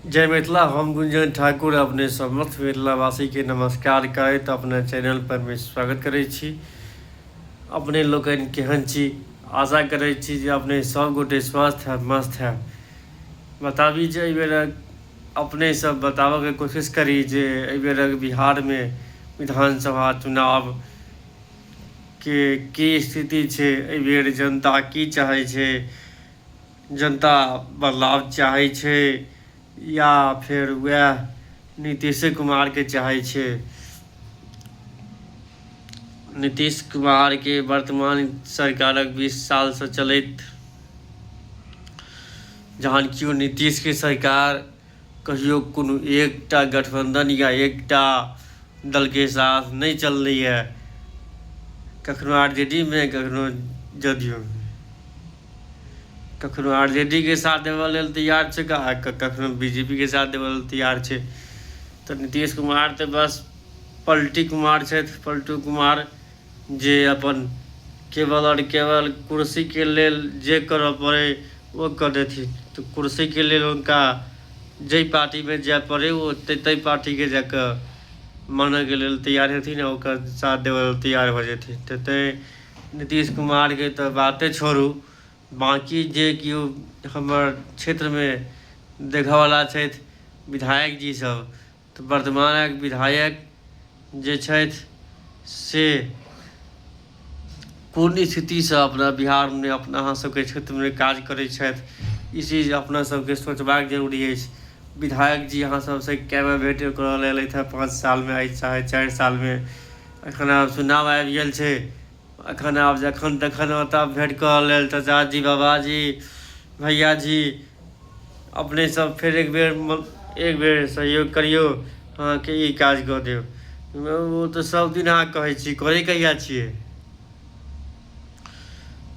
जय मिथिला हम गुंजन ठाकुर अपने समस्त मिथिलावासी के नमस्कार करैत अपने चैनल पर में स्वागत करै छी अपने लोकन केहन छी आशा करै छी जे अपने सब गोटे स्वस्थ है मस्त है बताबी जे बेर अपने सब बताबऽ के कोशिश करी जे बेर बिहार में विधानसभा चुनाव के की स्थिति छै बेर जनता की चाहै छै जनता बदलाव चाहै छै या फेर वएह नीतीशे कुमारके चाहै छै नीतीश कुमारके वर्तमान सरकारक बीस सालसँ चलैत जहन केओ नीतीशके सरकार कहियो कोनो एकटा गठबंधन या एकटा दल के साथ नहि चललैए। कखनो आरजेडी मे कखनो जदयू मे। कखनो आरजेडी के साथ देबऽ लेल तैयार छैक आ कखनो बीजेपी के साथ देबऽ लेल तैयार छै। तऽ नीतीश कुमार तऽ बस पलटी कुमार छथि, पलटू कुमार। जे अपन केवल आओर केवल कुर्सीके लेल जे करऽ पड़ै ओ कऽ देथिन तऽ कुर्सीके लेल हुनका जाहि पार्टीमे जाए पड़ै ओ ताहि पार्टीके जा कऽ मानैके लेल तैयार हेथिन आओर ओकर साथ देबऽ लेल तैयार भऽ जेथिन तऽ ताहि नीतीश कुमारके तऽ बाते छोड़ू बाँकी जे केओ हमर क्षेत्रमे देखऽवला छथि विधायकजीसभ तऽ वर्तमानक विधायक जे छथि से कोन स्थितिसँ अपना बिहारमे अपना अहाँ सभके क्षेत्रमे काज करै छथि ई चीज अपना सभके सोचबाक जरूरी अछि विधायक जी अहाँ सभसँ कए बेर भेट करय लेल एलथि हेँ पाँच सालमे आइ चाहे चारि सालमे एखन आब चुनाव आबि गेल छै अखन आब जखन तखन ओतऽ भेट करऽ लेल चाचाजी बाबाजी भैयाजी अपने सब फेर एक बेर एक बेर सहयोग करियौ अहाँके ई काज कऽ देब ओ तऽ सब दिन अहाँ कहै छी करै कहिया छियै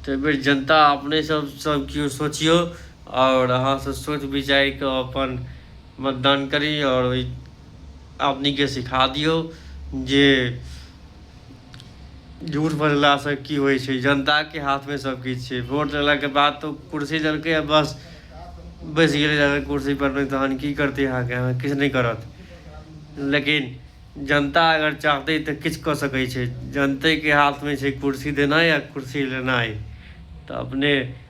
तऽ बेर जनता अपने सब सब केओ सोचियौ आओर अहाँ सब सोच विचारि कऽ अपन मतदान करी आओर ओहि आदमीके सिखा दियौ जे झूठ बजलासँ की होइ छै जनताके हाथमे सब किछु छै वोट लेलाके बाद तऽ कुर्सी देलकै आ बस बैसि गेलै जाकऽ कुर्सी पर नहि तहन की करतै अहाँके अहाँ किछु नहि करत लेकिन जनता अगर चाहतै तऽ किछु कऽ सकै छै जनतेके हाथमे छै कुर्सी देनाइ आ कुर्सी लेनाइ तऽ अपने